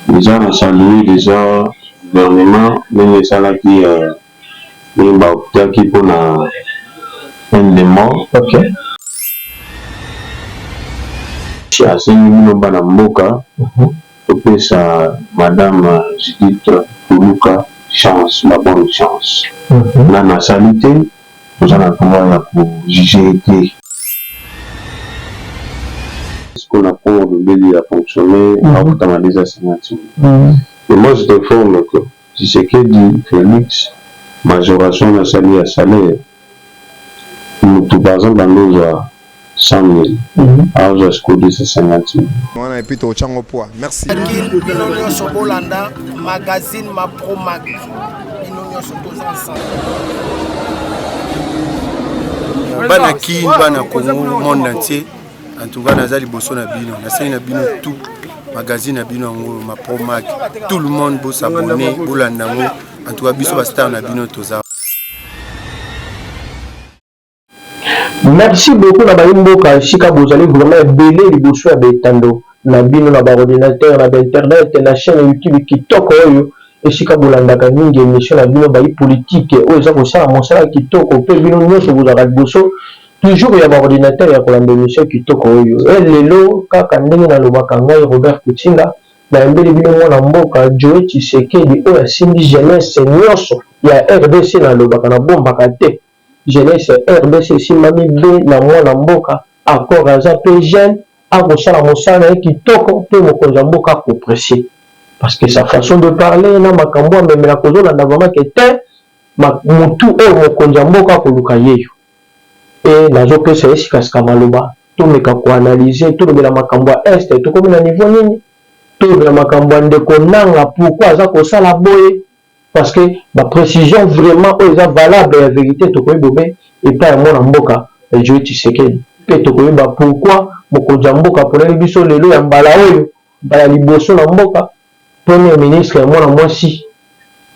Dejà na saluer dejà gouvernement ndenge esalaki ndenge ba optaki pona peine de mort. Asengi bino bana mboka bopesa madame Judith Tuluka chance, la bonne chance. Nanu asali te. Toza na droit ya ko juger ye te. Sikoyo na congo olobeli a fonctionne afutama dejà 50 mille mais moi je t'informe que tshisekedi felix majoration wana asali ya salaire mutu par exemple ando ozua 100000 aozwa sikoyo 250000 Muana et puis to tia ngo poids. Merci. Kin bino nyonso bolanda magazine ma pro mag bino nyonso toza ensemble bana kin bana congo monde entier en tout cas naza liboso na bino nasali na bino tout magazine na bino yango ma pro mag tout le monde bosabone bolanda yango en tout cas biso bastar na bino toza Merci beaucoup na bayi mboka esika bozali vraiment ebele liboso ya ba etando na bino na ba ordinateur na ba internet na chaine ya YouTube kitoko oyo esika bolandaka mingi emission na bino bayi politique oyo eza kosala mosala kitoko pe bino nionso bozalaka liboso toujours ya ba ordinateur ya kolanda emission kitoko oyo e lelo kaka ndenge na lobaka ngai Robert Kutshinda na yambeli bino mwana mboka Joe Tshisekedi oyo asimbi jeunesse nionso ya rdc na lobaka na bombaka te jeunesse ya rdc esimbami be na mwana mboka encore aza pe jeune ako sala mosala na ye kitoko pe mokonzi ya mboka ako precier parce que sa façon de parler na makambu amemelaka ozo landa vraiment que tein mutu oyo mokonzi ya mboka ako luka yeyo pe nazo pesa ye sika sika maloba to meka ko analyser to lobela makambu ya est tokomi na niveau nini to lobela makambu ya ndeko nanga pourquoi aza ko sala boye Parce que ba precisions vraiment oyo eza valable ya verite tokoki bobe epai ya mwana mboka Joe Tshisekedi mpe tokoyeba pourquoi mokonzi ya mboka aponami biso lelo ya mbala oyo mbala liboso na mboka Premier ministre ya mwana mwasi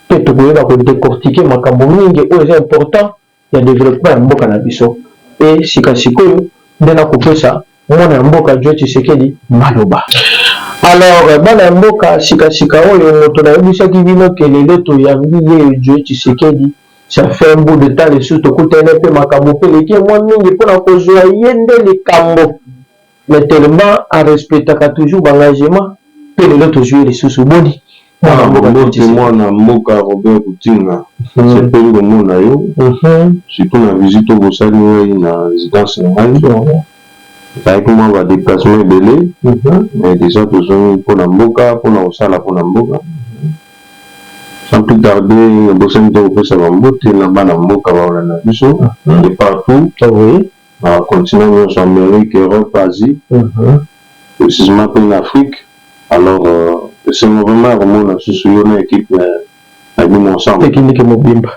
mpe tokoyeba ko decortiquer makambo mingi oyo eza important ya developpement ya mboka na biso mpe sika sikoyo nde na kopesa mwana ya mboka Joe Tshisekedi maloba. Alors bana ya mboka sika sika oyo moto na yebisaki bino ke lelo toyambi ye Joe Tshisekedi ça fait un bout de temps lisusu tokutani na ye mpe makambo mpe eleki ye mwa mingi mpo na kozua ye nde likambo mais tellement a respectaka toujours ba engagement pe lelo tozui ye lisusu boni Ah, mbote mwana mboka Robert Kutinga, nasepeli komona yo surtout na visite oyo bosali ngai na residence na ngai ezalaki mwa ba déplacement ebele mais déjà tozongi mpo na mboka mpo na kosala mpo na mboka sans plus tarder nabosani te kopesa bambote na bana mboka baolanda biso de partout na ba continents nionso Amerique, Europe, Asie precisement pe na Afrique alors esengo vraiment ya komona lisusu yo na equipe na bino ensemble. Ekiliki mobimba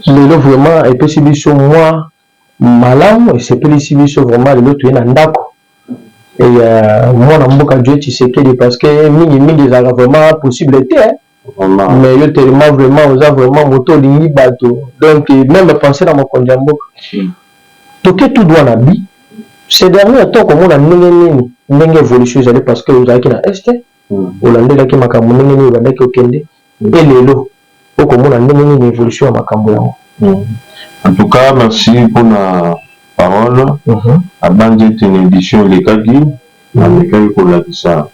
lelo vraiment epesi biso mua malamu esepelisi biso vraiment lelo toye na ndako ya mwana mboka Joe Tshisekedi parce que mingi mingi ezalaka vraiment possible te. mais yo telema vraiment oza vraiment moto olingi bato donc meme penser na mokonzi ya mboka toke tout droit na bi ce dernier temps komona ndenge nini ndenge évolution ezali parce que ozalaki na est olandelaki makambo ndenge nini obandaki okende mpe lelo okomona ndenge nini évolution ya makambo yango en tout cas merci mpona parole abanzi ete na édition elekaki Namekaki kolakisa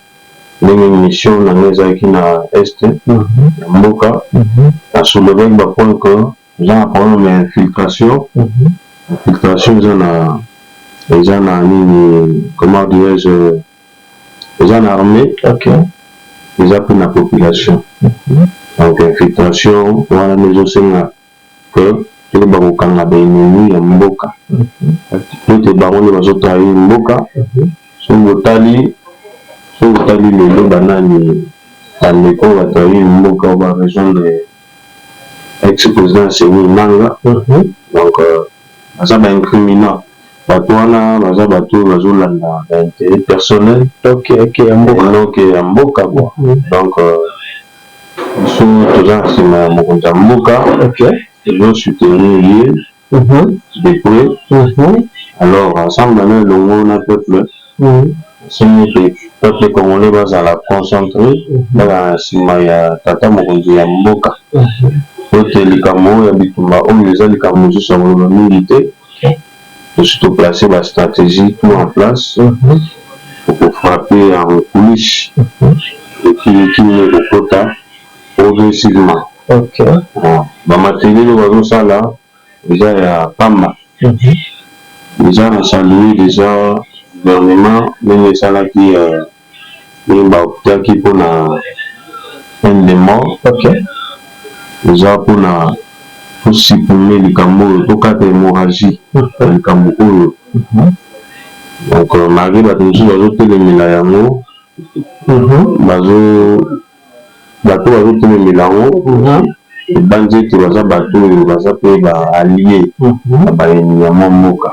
ndenge mission na ngai ezalaki na Est ya mboka. Na soulevaki ba points que toza na problème ya infiltration. Infiltration eza na, eza na nini, comment dirais-je, eza na armee, eza mpe na population. Donc infiltration wana nde ezosenga que toyeba kokanga ba ennemis ya mboka mpo ete bango nde bazo trahir mboka soki botali soki otali lelo ba nani ba ndeko oyo ba trahir mboka ba rejoindre ex president Nsemi Imanga donc baza ba incriminant batu wana baza batu oyo bazo landa ba interet personnel et non que ya mboka quoi donc Biso toza na sima ya mokonzi ya mboka tozo soutenir ye de près alors ensemble na elongo na peuple nasengi ete peuple congolais bazala concentre bazala na sima ya tata mokonzi ya mboka po ete likambo oyo ya bitumba oyo eza likambo mosusu ya koloba mingi te. Biso to place ba strategie tout en place pour ko frapper en coulisse et puis equipe eko kota progressivement. Ba materiels oyo bazo sala eza ya pamba. Dejà na saluer dejà gouvernement ndenge esalaki et ba optaki mpo na peine de mort okay. Eza mpo na to supprimer likambo oyo, tokata hemorragie ya likambo oyo donc malgre bato mosusu bazotelemela yango bazo Bato oyo bazo telemela yango ebanzi ete baza bato oyo baza pe ba allies ya bayini ya mwa mboka.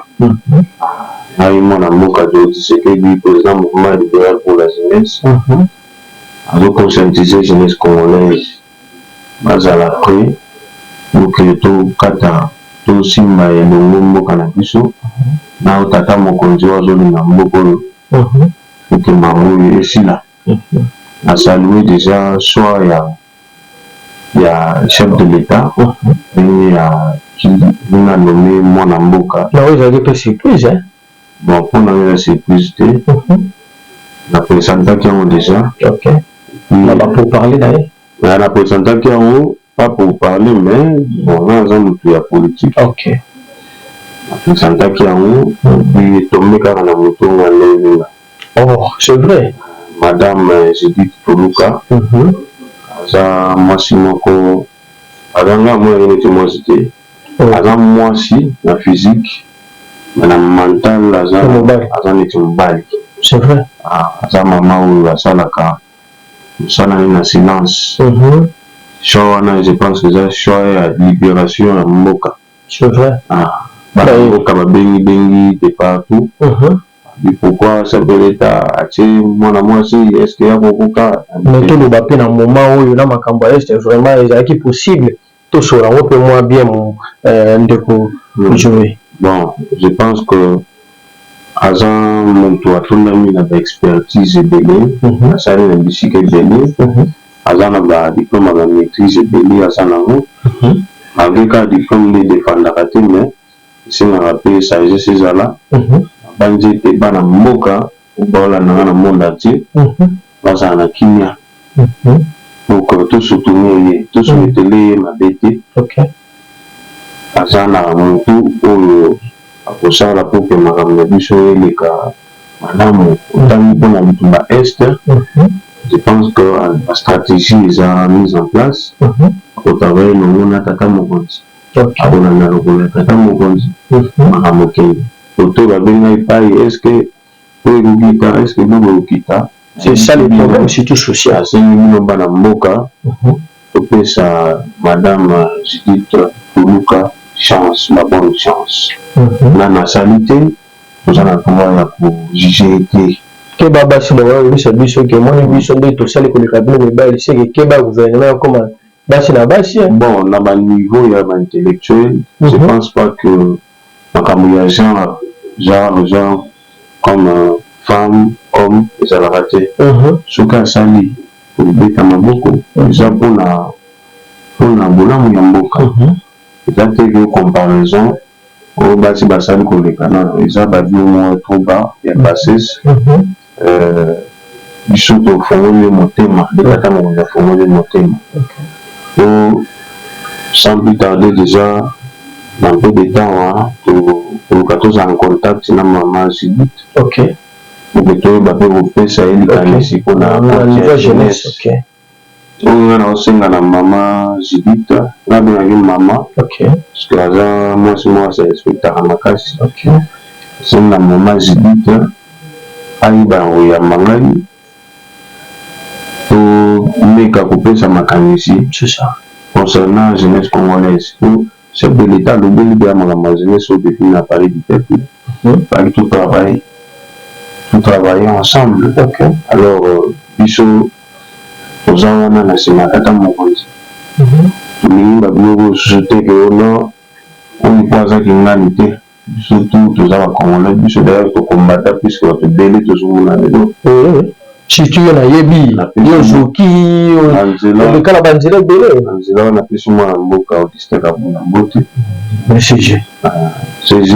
Ngai mwana mboka Deo Tshisekedi, president mouvement liberal pour la jeunesse, nazo conscientiser jeunesse congolaise bazala pret pour que to kata, to simba elongo mboka na biso na oyo tata mokonzi oyo azo linga mboka oyo pour que mawa oyo esila. na saluer dejà choix ya ya chef de l'etat ndenge ya ndenge a nomme mwana mboka Na oyo ezalaki pe surprise hein. Bon po na nga eza surprise te na presentaki yango dejà. Ok na ba pour parler na ye? Mais na presentaki yango pas pour parler mais bon nga naza mutu ya politique. OK. Na presentaki yango puis etombe kaka na moto nga ndenge nga. Oh, c'est vrai. Madame euh, Judith Toluka. Mm -hmm. Aza mwasi moko aza nga amonaki neti mwasi te. Oh. Aza mwasi na physique mais na mental aza aza neti mobali. C'est vrai. Ah, aza mama oyo asalaka musala naye na silence choix wana je pense eza choix ya liberation ya mboka bana mboka ba bengi bengi de partout mais pourquoi chef de l'etat atie mwana mwasi est ce que akokoka mais toloba pe na moment oyo na makambu ya est vraiment ezalaki possible Tosora ngo pe mwa bien mu eh, ndeko hmm. Joe. Bon, je pense que aza mutu atondami na ba expertise ebele, mhm. asali na bisika ebele, mhm. aza na ba diplome ya ba maîtrise ebele aza nango. Mhm. Malgré kaka diplome nde edefandaka te mais esengaka pe sagesse ezala. Nabanzi ete bana mboka Oyo baolanda nga na monde entier bazala na kimia donc to soutenir ye to soueteler ye mabe te aza na mutu oyo akosala pour que makambo na biso eleka malamu otangi pona bitumba est je pense que ba strategie eza mise en place ako travailler elongo na tata mokonzi akolanda lokolo ya tata mokonzi makambo ekende. Photo babengi nga epayi est ce que po ekokita est ce que biloko ekokita c'est ça le problème surtout social nasengi bino bana mboka topesa madame Judith Tuluka chance la bonne chance nanu asali te toza na droit ya ko juge ye te keba basi bakoya koyebisa biso ke omoni biso nde tosali koleka bino mibali seke keba gouvernement ekoma basi na basi bon na ba niveau ya ba intellectuel je pense pas que makambu ya genre genre genre comme femme homme ezalaka te soki asali beta maboko eza pona pona bolamu ya mboka eza te que comparaison oyo basi basali koleka non eza ba duo moko trop bas ya bassesse Euh, biso tofongoli yo motema nde tata mokonzi afongoli yo motema po sans plus tarder déjà na peu de temps wana tokoluka tozala na contact na mama judith ok oke toyeba mpe kopesa ye likanisi mpona jeunesse Oyo nga nao senga na mama Judith nga bengaka ye mama parceque aza mwasi moko a se respectaka makasi nasenga mama Judith ayeba na koyamba ngai to meka kopesa makanisi concernant jeunesse congolaise po Chef de l'etat alobeli dejà makambo ya jeunesse oyo depuis na palais du peuple fallait to travailler to travailler ensemble alors biso toza wana na sima tata mokonzi tolingi ba biloko oyo susu te ke o nord oyo po aza kingani te Biso tout toza ba congolais biso d'ailleurs to combata plus que batu ebele tozo mona lelo. Eeh surtout yo nayebi yo ozoki oleka na ba nzela ebele. Na nzela wana napesi mwana mboka Augustin Kabunda mbote. Mais CG. CG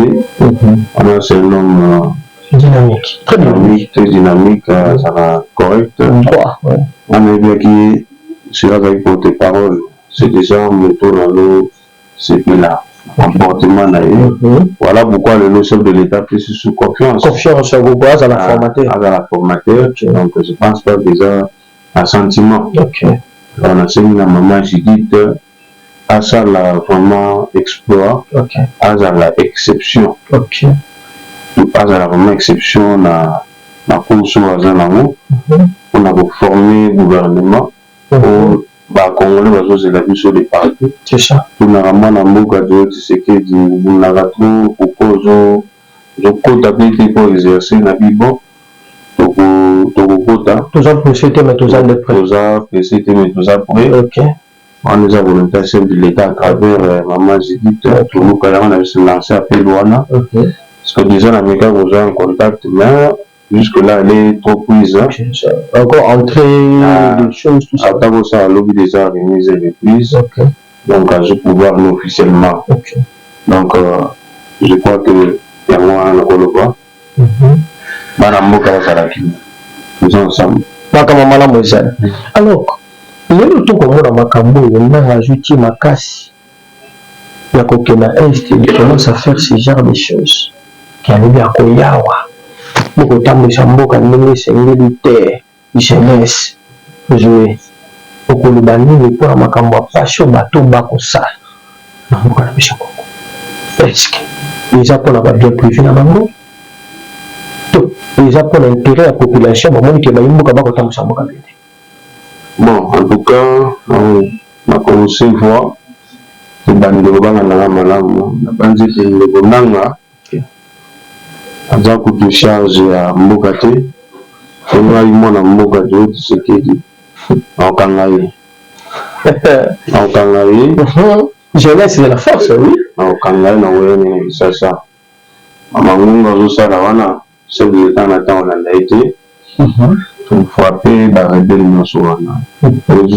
wana c'est un homme dynamique très dynamique très dynamique azala correct. Droit. Wana nayebaki ye soki azalaki porte parole c'est déjà moto na no sepela na comportement na ye voilà pourquoi lelo chef de l'etat apesi lisusu confiance confiance ya koko azala ah, formateur azala formateur donc je pense pas que eza na sentiment alors nasengi na maman judith asala vraiment exploit azala exception azala vraiment exception na na course oyo aza nango mpona mhm. koforme gouvernement po ba congolais bazo zela biso de partout tunaka muana mboka Djolo Tshisekedi obundaka trop pourquoi ozo ozo kota pe te ko exerce na bi bo toko toko kota toza presse te mais toza nde pret toza presse te mais toza pret ok wana eza volonte ya chef de l'etat à travers maman Judith toluka yango na biso lancer appel wana ok parce que dejà na meka kozwa contact mais Jusque là elle est trop prise encore entrer des choses tout ça ata kosala lobi deja remise et reprise okay. donc azo pouvoir no officiellement okay. donc euh, je crois que yango wana nakoloba bana mboka bazala kino toza ensemble makambo malamu ezali alors lelo tokomona makambo oyo nanga azwi tie makasi ya kokenda est il commence à faire ce genre de choses ke alobi akoya awa po kotambwisa mboka ndenge esengeli te jeunesse zoe okoloba nini po na makambo ya pasi oyo bato bakosala na mboka na biso congo est ce que eza po na ba bien prive na bango to eza po na interet ya population bamoni ke bayi mboka bakotambwisa mboka bende Bon en tout cas na ko recevoir ebandi kobanga nanga malamu nabanzi ete ndeko nanga aza kutu charge ya mboka te po ngai mwana mboka toyo tshisekedi nakokanga ye nakokanga ye jeunesse de la force oui nakokanga ye na weyene na kisasa mangunga azosala wana Chef de l'etat na temps olanda ye te to frappe ba rebelles nionso wana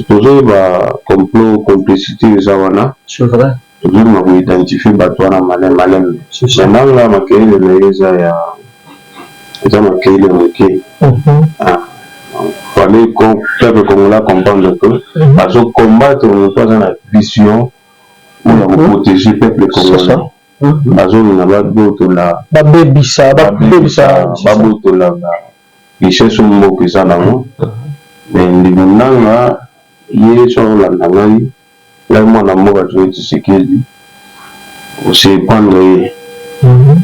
tozo yeba complot complicite eza wana tozo linga ko identifier batu wana malin malin mais nanga makelele na ye eza ya eza makelele muke fallait que peuple congolais a comprendre que azo combattre mutu aza na vision oyo ya ko proteger peuple congolais bazongi na babotola babebisa babebisa babotola ba richesse oyo mboka eza nango me ndeko nanga ye so olanda ngai ngai mwana mboka toye tisekedi ose prendre ye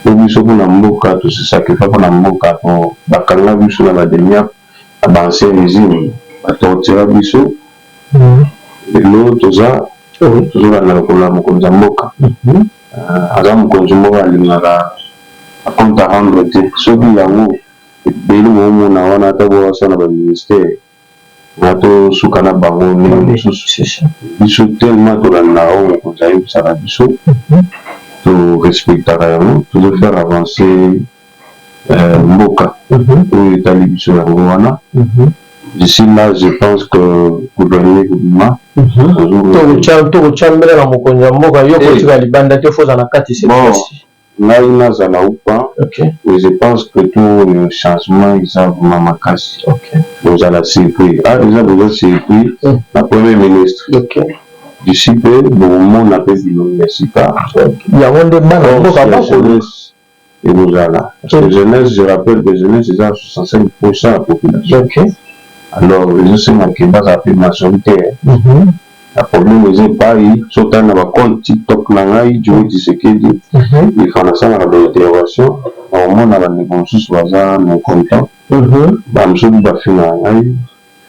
po biso mpona mboka tose sacrifie mpona mboka po bakanga biso na bademiape na ba ancien regime ba tortira biso lelo toza tozolanda lokolo ya mokonzi ya mboka aza mokonzi moko alingaka ba compte à rendre te soki yango ebele boomona wana ata bowasa na ba ministère nga tosuka na bango ndenge mosusu biso tellement tolanda oyo mokonzi ayebisaka biso to respectaka yango tozo faire avancer euh, mboka oyo etali biso yango wana d'ici là je pense que gouvernement ekobima tokotyambela na mokonzi ya mboka yo kotika libanda te foza na kati sepasi ngai nazala upa mais je pense que to oyo changement eza vraimen makasi bozala surpris a eza boza surpris na premier ministre d'ici mpe bokomona mpe bilongi ya sika yango nde bana mboka bakolo ekozala parce que jeunesse je rappelle que jeunesse eza na 65 pourcent ya population alors ezosenga que bazala pe majoritaire na problème eza epayi soki otali na ba compte tiktok na ngai Djuni Tshisekedi ilfo nasalaka ba intervention nakomona bandeko mosusu baza na incontent bamosusu bafingaka ngai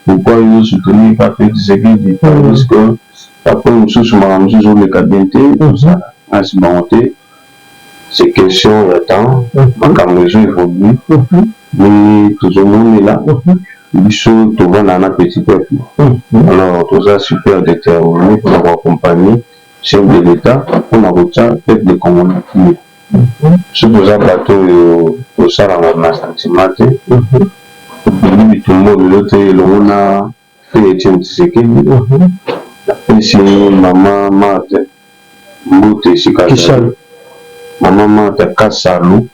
Pourquoi yo ozo soutenir pas Felix Tshisekedi tandis que ba coin mususu makambo mususu ezo leka bien te oza nasi bango te c'est question ya temps makambo ezo evoluer ndenge tozo monela biso tovandaka na petit peuple alors toza super determiner pona ko accompagner chef de l'etat pona kotia peuple congolais kimia. Soki oza bato oyo osalaka na sentiment te, obimi bitumba oyo lelo te elongo na Feu Etienne Tshisekedi, napesi mama Marthe mbote esika azali. Mama Marthe Kasalu,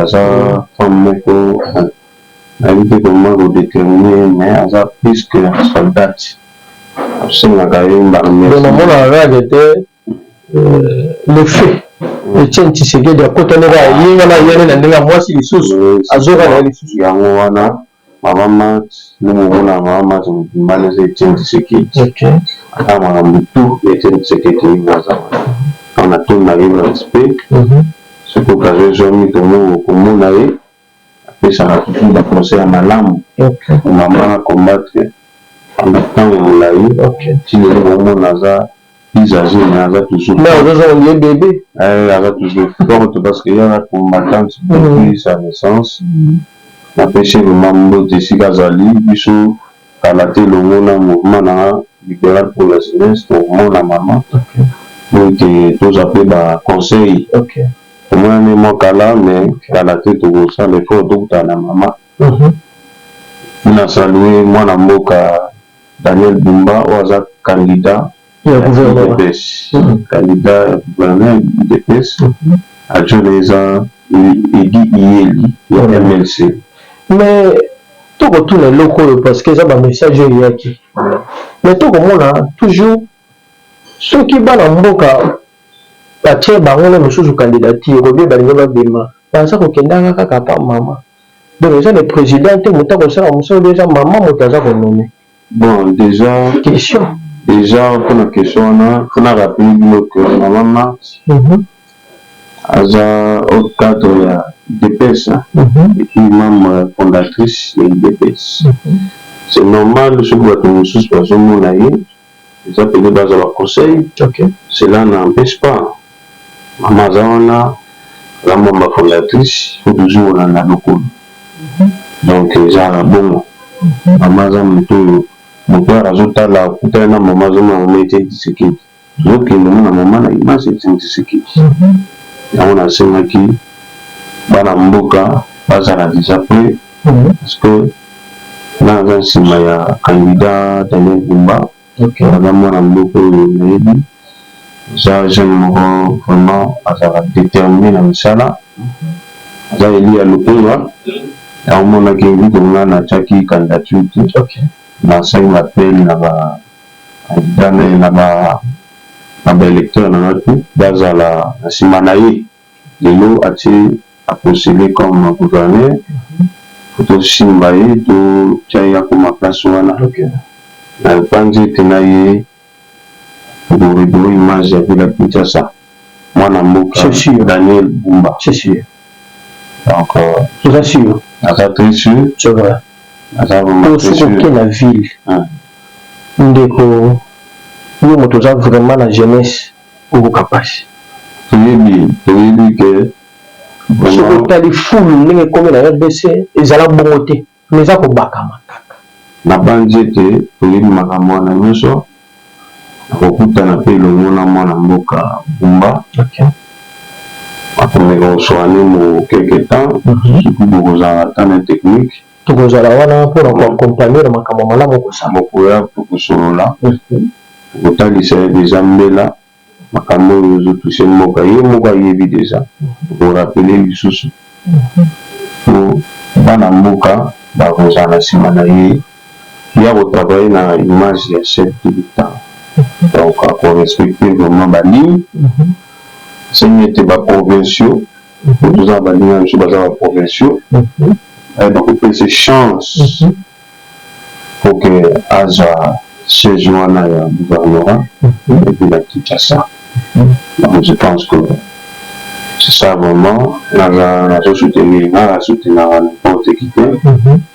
aza femme moko nayebi te comment ko determiner ye mais aza plus que soldate, tosengaka ye mbala mingi. le feu Etienne Tshisekedi akota nde kaka ye wana ayali na ndenge ya mwasi lisusu azoka na ye lisusu. Yango wana mama Marthe nde mobu na mama Marthe mobimba wana eza Etienne Tshisekedi. Ata makambo tout ya Etienne Tshisekedi ye nde aza wana. Wana toyina ye na respect soki occasion ezwami tomoyi okomona ye. apesaka toujours ba conseils ya malamu pour maman a combattre pendant tango mulayi ti lelo bomona aza plus age mais aza toujours forte eh aza toujours forte parce que ye aza combattante depuis sa naissance napesi ye vraiment mbote esika azali biso Kala te elongo na mouvement na liberal pour la jeunesse to mona mama pour que tozwa pe ba conseil emonani mua kala mais kala te tokosala effort tokutana na mama na salue mwana mboka Daniel Bumba oyo aza candidat ya udps candidat ya gouverneur udps adjoint na ye eza Eddy Iyeli ya mlc. Mais to ko tuna eloko oyo parce que eza ba message oyo eyaki mais to ko mona toujours soki bana mboka ba tie bango na misusu candidature ou bien ba lingi ba bima baza ko kendaka kaka par maman donc eza le president te mutu ako sala musala ou bien eza maman mutu aza ko nommer Bon dejà question dejà pona question wana faut na rappeler bino que maman Marthe mm -hmm. aza au cadre ya udps hein? mm -hmm. et puis membre fondatrice ya udps mm -hmm. c'est normal soki bato mosusu bazomona ye eza pede baza ba conseil cela na empece pas maman aza wana aza membre fondatrice faut toujours olanda lokolo donc eza bongo maman aza moto oyo moto oyo azotala akutana na maman azomona maman etienne tshisekedi azokende mona maman na image etienne tshisekedi yango nasengaki bana mboka bazala deja pre parce que nga naza nsima ya candidat Daniel Bumba aza mwana mboka oyo nayebi aza jeune moko vraiment azala determine na misala aza eli ya lokunga yango monaki vide nga natiaki candidature te nasali ba appel na ba candidat na ba na ba électeur na nga tout bazala na nsima na ye Lelo atie a postule comme gouverneur faut tosimba ye to tia ye akoma place wana na panzi ete na ye bourri bourri image ya ville ya Kinshasa mwana mboka Daniel Bumba donc naza très sur naza vraiment très sur oke na ville ndeko yo moto oza vraiment na jeunesse. okoka pasi. Toyebi toyebi que vraiment. Soki otali fulu ndenge ekomi na rdc ezala bongo te mais eza kobakama kaka. Nabanzi ete oyebi makambo wana nyoso. Nakokutana mpe elongo na mwana mboka Bumba. Ok. Akomeka kosua ne mo quelque temps soki bokozala ata na technique. Tokozala wana mpo na ko accompagner na makambo ya malamu okosala. Bokoya mpo tosolola, tokotalisa ye dejà mbela makambo oyo ezo toucher mboka ye moko ayebi dejà, toko rappeler ye lisusu mpo bana mboka bakozala na sima na ye. Ye ako travailler na image ya chef de l'Etat donc ako respecter vraiment ba lignes. Esengi ete ba provinciaux. Mhm. toza na baninga na biso baza ba provinciaux mhm. eh, bakopesa chance mhm. poke azwa siège wana ya gouvernorat epi na kinshasa donc je pense que c'est ça vraiment naza nazo soutenir nga na soutenaka n'importe qui te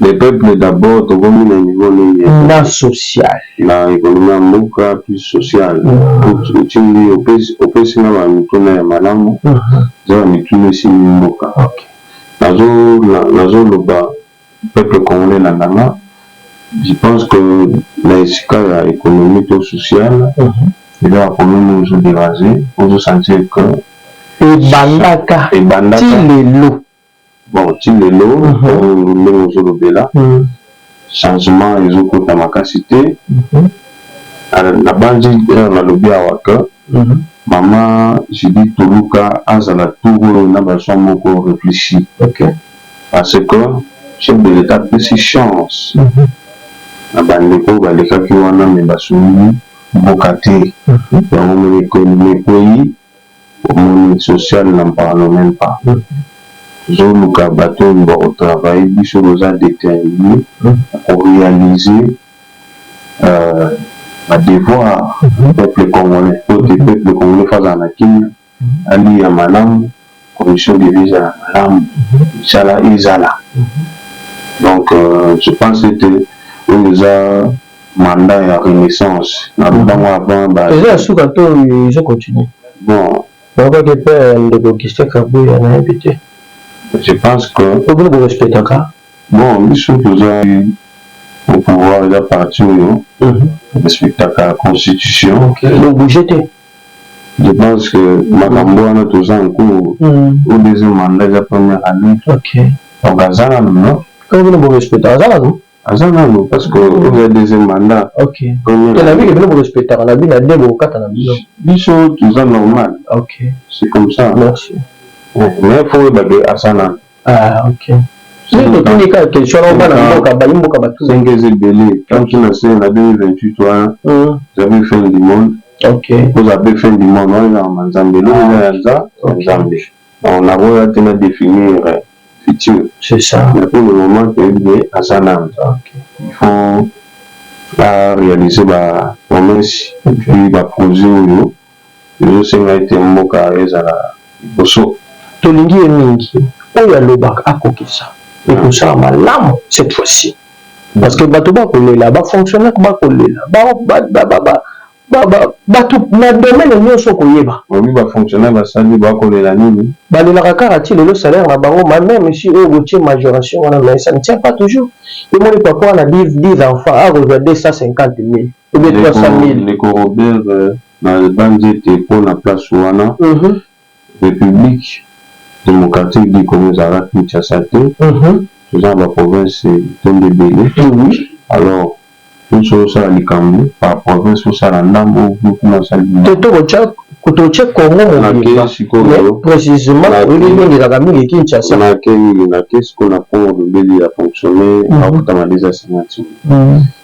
Le peuple d'abord tokomi na niveau nini na social na economie ya mboka puis social otindi opesi nga ba mituna ya malamu eza ba mituna esimbi mboka nazo loba peuple congolais elandanga je pense que na esika ya economie to social eza ba problème oyo ezo deranger ozo sentir que ebandaka ti lelo bon ti lelo tangu ndenge ozo lobela changement ezo kota makasi te na banzi heure na lobi awa que maman Judith Toluka azala tour oyo na ba choix moko reflechi par ce que chef de l'etat apesi chance na ba ndeko oyo ba lekaki wana mais ba sungi mboka te yango omoni que ne paie Omoni social n'en parlons meme pas tozo luka batu oyo bako travailler biso toza determine nako realiser ba devoirs ya peuple congolais po te peuple congolais faut azala na kimia aliya malamu. condition de vie ezala malamu misala ezala donc euh, je pense ete oyo eza mandat ya renaissance na lobango avant ba eza ya suka to ezo continue bon bakaki mpe ndeko augustin kabuya nayebi te je pense que obino borespectaka bon biso toza au pouvoir eza parti oyo respectaka constitution donc bouge te Je pense que makambo wana toza en cours ou deuxième mandat eza première annee donc aza nanu no Kaka bino bo respectaka aza nanu? aza nanu parce que oyo ya deuxième mandat première annee nayebi ke bino bo respectaka na bino ya deux boko kata na bino biso toza normal c'est comme ça mais il faut oyeba ke aza nanu. Ah, okay. Soki totuni kaka question na bana mboka bayi mboka batu cinq ans ebele ntango tuna se na 2028 wana zabe fin du monde oza mpe fin du monde wana ezalaka manzambe eloko eza ya nza ya nzambe donc nakoya te na définir futur mais pour le moment toyebi ke aza na nza il faut arealiser bapromesse epuis baprojet oyo ezosenga ete mboka ezala liboso. Tolingi ye mingi oyo alobaka akokisa ekosala malamu cette fois ci parce que batu bakolela ba fonctionnaires bakolela batu na domaine nioso okoyeba olobi ba fonctionnaires basali bakolela nini? Balelaka kaka ti lelo salaire na bango ma meme si oyo botie majoration wana mais ça ne tient pas toujours yo moni papa wana dix enfants akozua 250000. ou bien 300000. Ndeko Robert na banzi ete po na place wana Republique democratique du Congo ezalaka Kinshasa te, toza na ba provinces etondi ebele alors yo soki osala likambo par province osala ndambu groupement osali ndambu. Te toko toko tye Congo mobimba mais precisement oyebi ndenge ezalaka mingi Kinshasa. Nake nini nake sikoyo na Congo olobeli a fonctionner akutama 250000.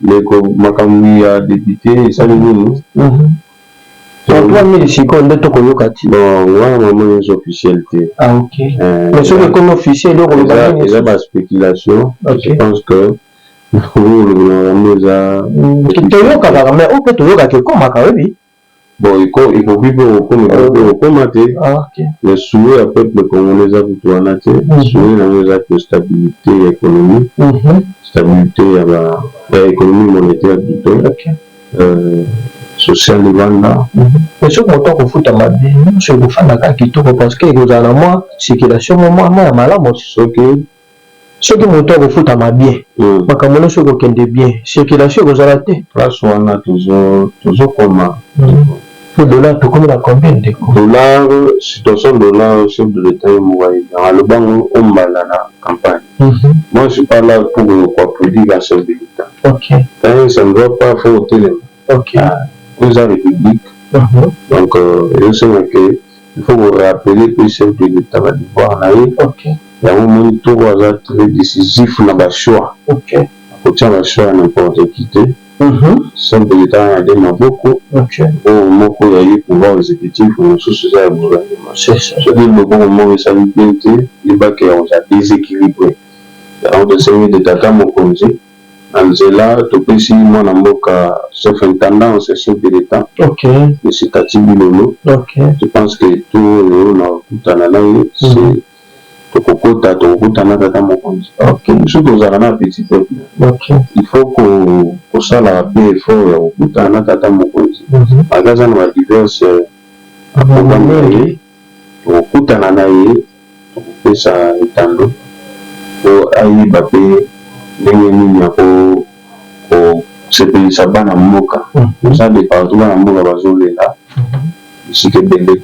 Ndeko makambu ya depute esali nini? Pour 3000 sikoyo nde to ko yoka ti. Non nga na moni eza officiel te. Ah ok mais soki ekomi officiel oko loba nini? Eza ba speculation je pense que oyo olobelaka yango eza. To yokaka mais oyo pe to yokaka ekomaka oyebi. Bon ekomi ekoki pe kokoma ekoki pe kokoma te mais souhait ya peuple congolais eza kutu wana te souhait na ngo eza que stabilite ya economie stabilite ya ba ya economie monetaire plutot social evanda. Mais soki moto akofuta mabe nionso ekofanda kaka kitoko parce que ekozala na mua circulation mua mua ya malamu soki Soki mutu akofutama bien makambo nionso ekokende bien circulation ekozala te. Place wana tozo koma ndeko. Po dollar tokomi na combien ndeko? Dollar situation dollar chef de l'etat ye moko ayebi yango alobi yango o mbala na campagne moi je suis pas là pour ko applaudir un chef de l'etat okay mais ça ne va pas faut otelema. Ok. Ah, oyo eza republique. Mhm. Donc euh, ezosenga ke il faut ko rappeler pe chef de l'etat ba devoir na ye. Ok. Yango omoni Toro aza très décisif na ba choix. Ok. Akotia ba choix ya n'importe qui te. Mhm. Chef de l'etat wana de maboko. Ok. Oyo moko ya ye pouvoir exécutif mosusu eza ya gouvernement. C'est ça. Soki loboko moko esali bien te, yeba ke oza desequilibre. Yango tosengi de tata mokonzi Na nzela, topesi mwana mboka sauf intendant ou ce chef de l'etat monsieur Taty Bilolo, je pense que tour oyo na kokutana na ye c'est tokokota tokokota na tata mokonzi, biso tozalaka na petit peuple il faut kosalaka pe effort ya kokutana na tata mokonzi malgre aza na ba diverses programmes na ye. tokokutana na ye, tokopesa etando po ayeba pe ndenge nini ako ko sepelisa bana mboka, toza de partout bana mboka bazo lela bisika ebele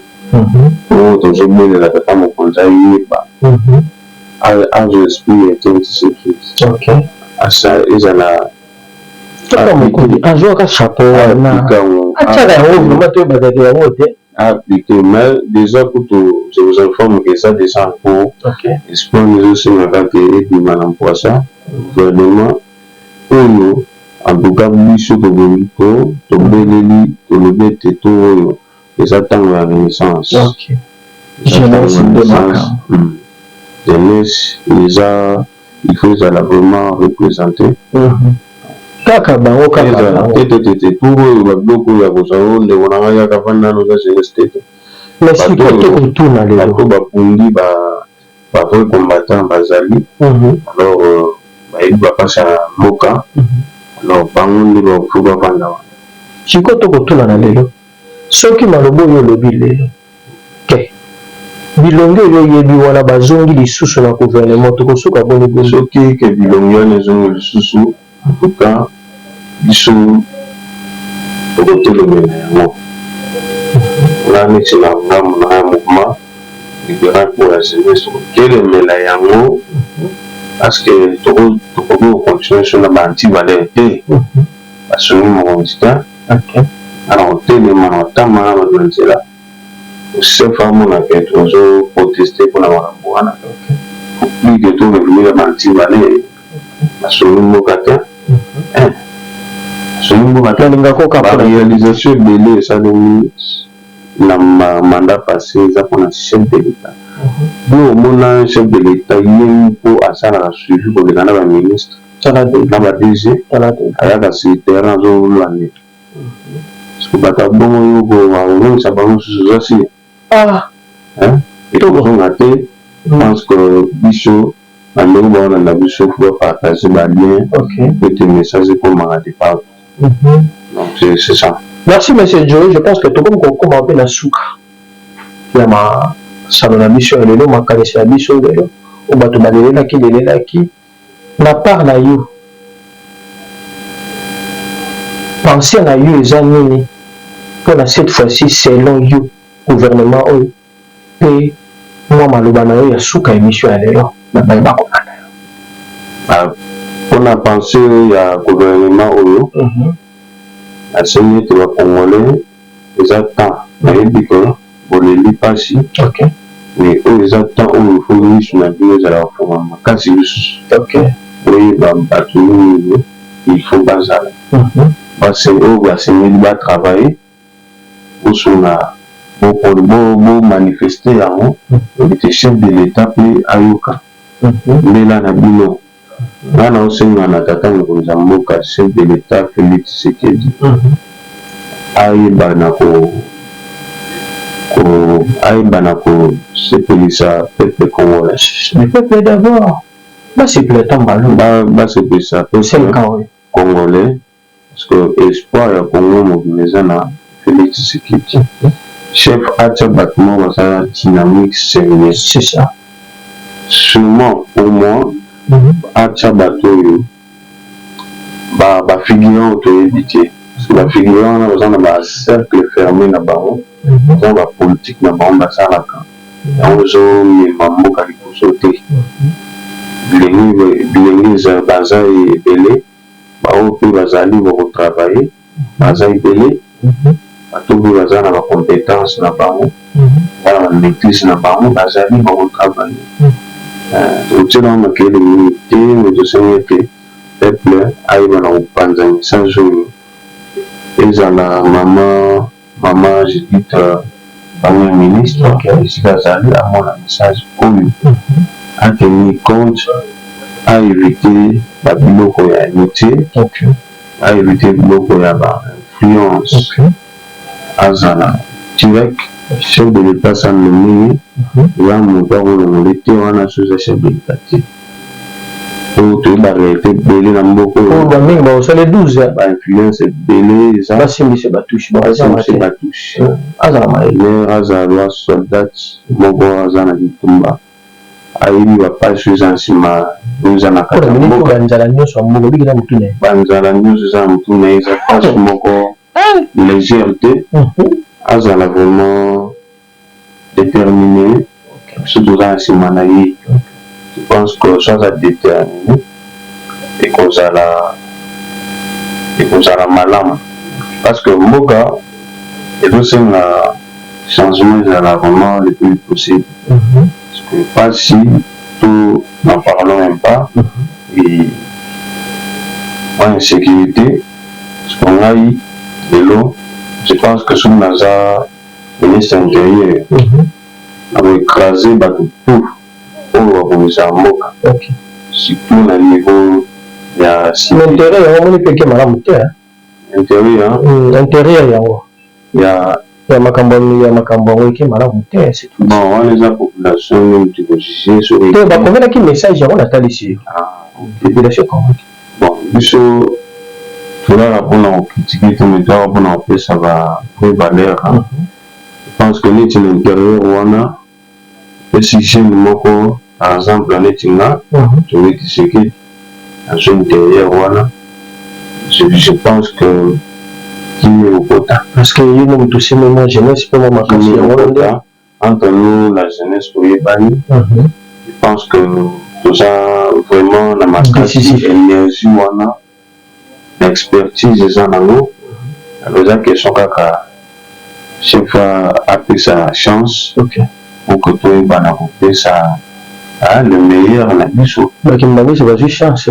po tozo belela tata mokonzi ayeba azo exprimer kin ti se kin asa ezala Tata mokonzi azuaka chapeau wana atiaka yango vraiment toyebaka ke yango te. Ah plutot mais dejà kutu je vous informe que eza dejà en cours Ok. espoir ezo senga kaka que ebima na mpuasa gouvernement oyo en tout cas biso tobongi ko tobeleli tolobi ete tour oyo eza tango ya renaissance Ok. eza tango ya Jeunesse nde renaissance makambo. hum jeunesse eza il faut ezala vraiment represente kaka bango kaka tetetete pour oyo babiloko oyo akozwa yo ndeko na ngai kaka vanda nano oza jeunesse tete bato bakundi bavrai combattant bazali mhm. alors euh, bayebi bapasi ya mboka mhm. alors bango nde bafo bavanda wana sikoyo tokotuna na lelo soki maloba oyo olobi lelo te bilongi oyo oyebi wana bazongi lisusu na gouvernement tokosuka boni boni soki ke bilongi wana ezongi lisusu en tout cas biso tokotelemela yango nga neti na nga na ya mouvement libéral pour la jeunesse tokotelemela yango parce que tokoki ko continuer biso na ba anti valeur te basungi mokonzi te, nga na kotelema na kotambwa na batu na nzela, Rousseff amona que tozo protester pona makambu wana, faut plus que to revenir na ntimba ne, basungi mboka te, eh basungi mboka te, ba realisations ebele esalemi na mandat passe eza pona chef de l'etat, yo omona chef de l'etat ye moko asalaka suivi koleka na ba ministres? na ba DG ayaka sur terrain azolula nde soki bato ya bongo yo kozongisa bango susu oza sire ekozonga te pense que biso na ndenge baolanda biso fo bapartage balien ete message ekomaka de partout donc c'est ça merci monsieur joe je pense que tokomi kokoma mpe na suka ya masano na biso ya lelo makanisi ya biso lelo oyo bato balelelaki lelelaki na part na yo pensee na yo eza nini pona cette fois ci selon yo gouvernement oyo pe mwa maloba na yo ya suka emission ya lelo na baye bakolanda yo ah, pona pensee ya gouvernement oyo mhm. asengi ete ba congolais eza temps nayebi que boleli pasi mais oyo eza temps oyo faut misu na bino ezala ko fongama makasi lisusu boyeba batu nini il faut bazala base oyo basengeli ba travailler bosunga bo manifester yango invite chef de l'etat pe ayoka mbela na bino Nga nao senga na tata mokonzi ya mboka chef de l'etat Felix Tshisekedi ayeba na ko ayeba na ko sepelisa peuple congolais. Le peuple d'abord ba sepela tango ba lobi. Ba sepelisa peuple congolais. Parce que espoir ya Congo mobimba eza na Felix Tshisekedi. Chef atia batu moko baza na dynamique serieux. C'est ça. Surement pour moi atia batu oyo ba figurants oyo toyebi te. Parce que ba figurants wana baza na ba cercles fermes na bango, baza na ba politiques na bango basalaka. Yango ezo mema mboka liboso te. Bilenge baza ebele. ba oyo pe bazali ba ko travailler baza ebele bato pe baza na ba competence na bango baza na ba maitrise na bango bazali ba ko travailler tokotiela bango makelele mingi te mais tosengi ete peuple ayeba na kopanza message oyo ezala maman Maman Judith premier ministre esika azali amona message oyo a tenir compte a eviter ba biloko ya inutile a eviter biloko ya ba influence azala direct chef de l'etat asa nomme ye eza mutu ako longola ye te wana soki eza chef de l'etat te. oyo toyebaka ete ebele na mboka oyo ba mingi ba kosala 12 ba influence ebele eza ba simbise ba touche ba simbise ba touche aza na maye mère aza loi soldat moko aza na bitumba ayebi ba page oyo eza na sima oyo eza na kati ya mboka ba nzala nionso ya mboka biki na mutu na ye ba nzala nionso eza na mutu na ye eza page moko légère te azala vraiment determine biso toza na sima na ye je pense que soki aza determine ekozala ekozala malamu parce que mboka ezosenga changement ezala vraiment le plus possible parce que pasi to n'en parlons même pas et mwa insécurité parce que ngai lelo je pense que soki naza ministre ya interieur ako ecraser batu tout oyo ba bongisaka mboka surtout na niveau ya civil. Mais interieur yango omoni pe eke malamu te hein. Interieur? Hum, interieur yango. Ya ya makambo ya makambo yango eke malamu te c'est tout. Bon wana eza population nini toko juger soki. Te ba komelaki message yango na talisi yo. Ah. Population ekomaki. Bon biso toyaka pona ko critiquer te mais toyaka pona kopesa ba vrai valeur je pense que neti na interieur wana epesi jeune moko par exemple neti nga Tshombe Tshisekedi naza interieur wana je pense que kimia ekokota parce que ye mutu tosimbi mwa jeunesse pe mwa makasi yango wana nde entre nous la jeunesse toyebani je pense que toza vraiment na makasi energie wana na expertise eza nango alors eza question kaka shefa apesa chance pour que toyebana kopesa le meilleur na biso. Ba kimbanguiste bazui chance.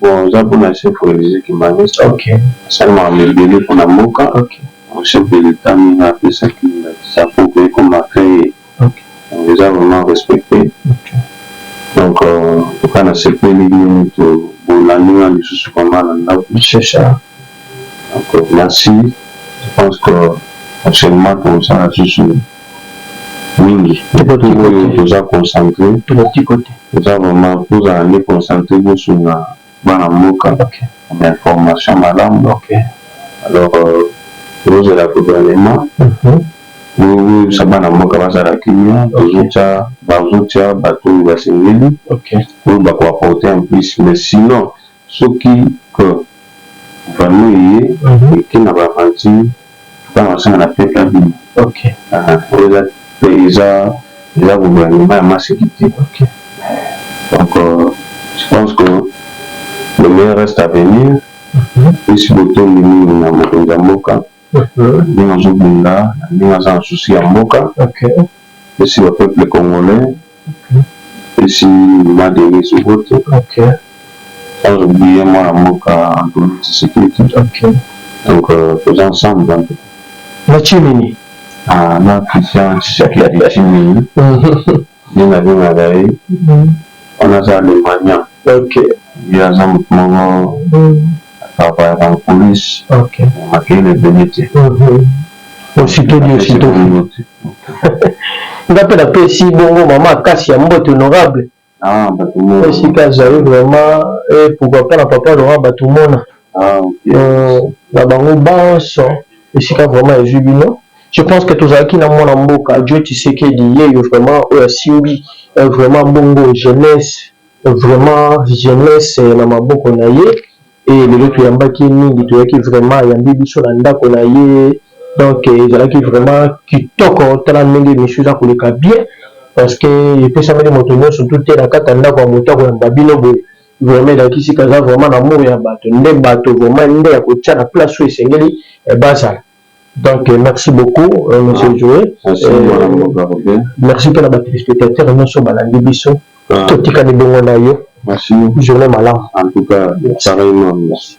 Bon eza pona chef religieux kimbanguiste asali makambo ebele pona mboka donc chef de l'etat ndenge apesaki ndakisa po ekoma cree donc eza vraiment respecte donc en tout cas nasepeli bino nioto bolandi nga lisusu vraiment na ndaku. Donc merci, je pense que prochainement tokosala lisusu mingi oyo toza concentre eza vraiment tozala nde concentre bosunga bana mboka na information malamu alors euh, tozozela gouvernement oyebisa mhm. bana mboka bazala kimia tozotya bazotya bato oyo basengeli oyo bakoaporte en plus mais sinon Soki corps valeur eye eke na ba aventure epa na ozanga na peuple abima ok oyo eza eza eza gouvernement ya maseki te ok donc je pense que le meilleur reste à venir plus botondi mingi na mokonzi ya mboka ndenge azo bunda ndenge aza na souci ya mboka epesi ba peuple congolais epesi mama Denise mbote sans oublier mwana mboka Antoine Tshisekedi donc toza ensemble en tout cas. Na Tshimini? Ah na Christian Tshisekedi Tshimini. Nde na bengaka ye wana aza alemania ok ye aza mutu moko a travaillaka en coulisse ok mais makeyile ebele te aussitôt dit aussitôt fait nga pe na pesi bongo mama akasi ya mbote honorable ah batu mona esika azali vraiment et pourquoi pas na papa laurent batu mona ah ok na bango banso esika vraiment ezui bino Je pense que tozalaki na mwana mboka Djo Tshisekedi yeyo vraiment oyo asimbi vraiment bongo jeunesse vraiment jeunesse na maboko na ye et lelo toyambaki ye mingi toyaki vraiment ayambi biso na ndako na ye donc ezalaki vraiment kitoko tala ndenge emission eza koleka bien parce que epesameli moto nyonso tout te na kati ya ndako ya moto akoyamba bino boye vraiment elakisi kaza vraiment na amour ya bato nde bato vraiment nde ya kotia na place oyo esengeli bazala Donc merci beaucoup euh, monsieur ah, Joe. Euh, merci mpe na ba téléspectateurs nyonso balandi biso. Ah. Totikali bongo na yo. Merci. Journée malamu. En tout cas, pareillement. Merci.